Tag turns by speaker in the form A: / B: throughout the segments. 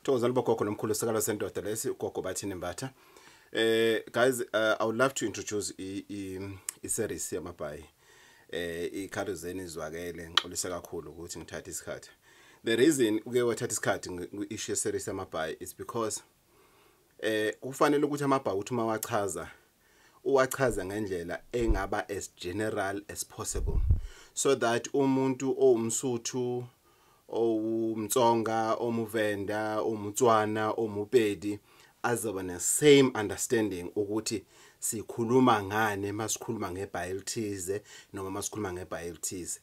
A: Thokozani bogogo nomkhulu sikalo sendoda lesi ugogo bathini mbatha. Eh guys uh, I would love to introduce i i, i series yamabhayi. Eh ikhalo zeni izwakele ngixolise kakhulu ukuthi ngithathe isikhathi. The reason uke wathatha isikhathi ngi-issue series yamabhayi is because eh kufanele ukuthi amabhawuthi uma wachaza uwachaza ngendlela engaba as general as possible so that umuntu owumsuthu owumtsonga omuvenda omutswana omupedi azoba ne same understanding ukuthi sikhuluma ngane masikhuluma ngebhayilithize noma masikhuluma ngebhayilithize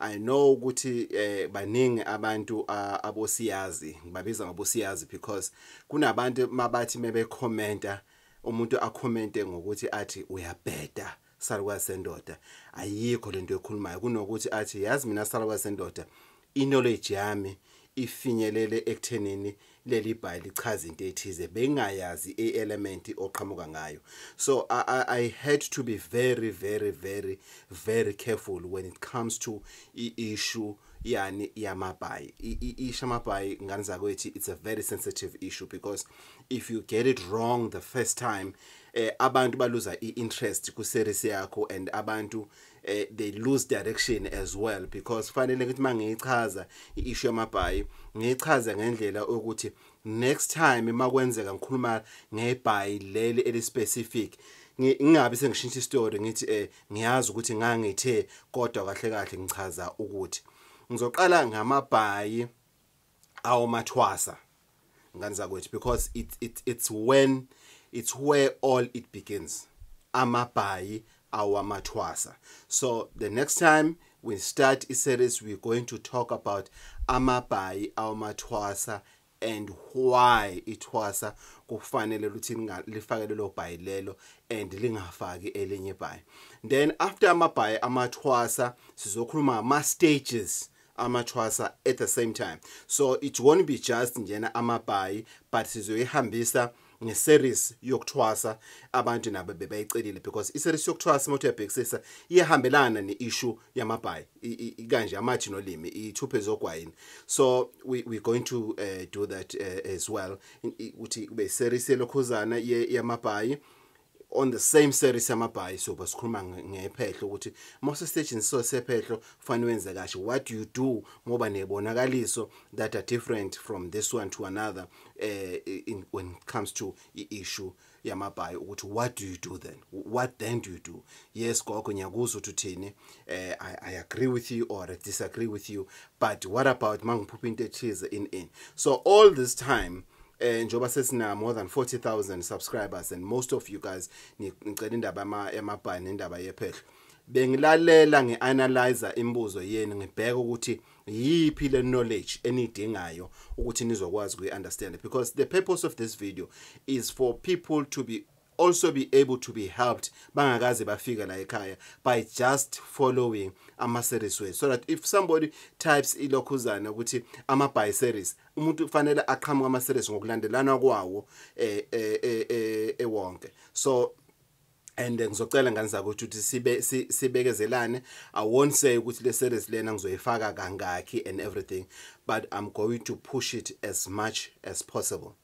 A: I know ukuthi eh baningi abantu uh, abosiyazi ngibabiza ngabosiyazi because kunabantu mabathi mebe commenta umuntu akhomente ngokuthi athi uyabheda salukwazi sendoda ayikho lento ekhulumayo kunokuthi athi yazi mina salukwazi sendoda iknowledge yami ifinyelele ekuthenini leli bhayi lichaza into ethize bengayazi i-element oqhamuka ngayo so I, I, i had to be very very very very careful when it comes to i-issue yani yamabhayi isho amabhayi ngane zakwethi it's a very sensitive issue because if you get it wrong the first time eh, abantu baluza i-interest ku-series yakho and abantu eh, they lose direction as well because fanele ukuthi mangiyichaza iissue yamabhayi ngiyichaze ngendlela ukuthi next time makwenzeka ngikhuluma ngebhayi leli elispecific ngingabe sengishintsha istory ngithi eh ngiyazi ukuthi ngangithe kodwa kahle kahle ngichaza ukuthi ngizoqala ngamabhayi awo mathwasa ngani zakwethu because it, it, it's when it's where all it begins amabhayi awamathwasa so the next time we start a series we're going to talk about amabhayi awamathwasa and why ithwasa kufanele ukuthi lifake lelo bhayi lelo and lingafaki elinye ibhayi then after amabhayi amathwasa sizokhuluma ngama stages amathwasa at the same time so it won't be just njena amabhayi but sizoyihambisa ngeseries yokuthwasa abantu nabo bebayicelile because iseries yokuthwasa uma uyabhekisisa iyahambelana ne-issue yamabhayi kanje amathi nolimi ithuphe zogwayini so we, we're going to uh, do that uh, as well ukuthi kube iseries yelokhuzana yamabhayi on the same series yamabhayi so basikhuluma ngephehlo ukuthi mose stage so sephehlo fanele wenze kahle what you do ngoba nebonakaliso that are different from this one to another eh in, when it comes to i issue yamabhayi ukuthi what do you do then what then do you do yes gogo ngiyakuzwa ukuthi uthini eh I, I agree with you or I disagree with you but what about mangiphupha into ethize in in so all this time eh njoba sesina more than 40000 subscribers and most of you guys ngicela indaba ama emabhayi nendaba yephehlo bengilalela ngianalyzer imibuzo yenu ngibheka ukuthi yiphi le knowledge enidingayo ukuthi nizokwazi kuyi understand because the purpose of this video is for people to be also be able to be helped bangakaze bafika la ekhaya by just following ama-series wethu so that if somebody types ilokhuzana ukuthi ama-by series umuntu kufanele aqhamuke ama-series ngokulandelana kwawo eh, eh, eh, eh, ewonke eh, so and ngizocela ngane zakho ukuthi sibe sibekezelane i won't say ukuthi le series lena ngizoyifaka kangakhi and everything but i'm going to push it as much as possible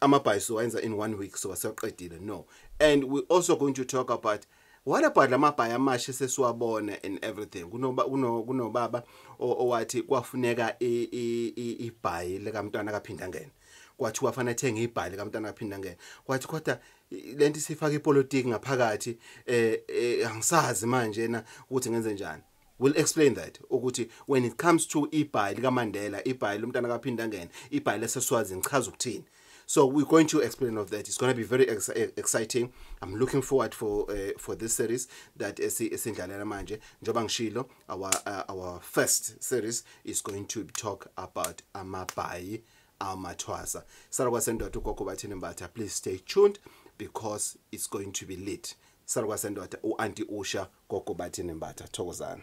A: amabhayi siwayenza in one week soba sewaqedile no and we also going to talk about what about lamabhayi amasha sesiwabona and everything kunoba kunobaba owathi kwafuneka ibhayi likamntwana kaphinda ngene kwathi wafana ethenga ibhali kamntana aphinda ngene kwathi kodwa lento isifaka ipolitiki ngaphakathi eh, eh angisazi manje na ukuthi ngenze njani will explain that ukuthi when it comes to ibhayi likaMandela ibhayi lomntana kaPhindangene ibhayi leseswazi ngichaza ukuthini so we're going to explain of that it's going to be very ex eh, exciting i'm looking forward for uh, for this series that esindlalela manje njoba ngishilo our uh, our first series is going to talk about amabhayi amathwasa sara kwasendoda ugogo bathini mbatha please stay tuned because it's going to be lit Salukwa sendoda uAnti Usha gogo bathini mbatha thokozana.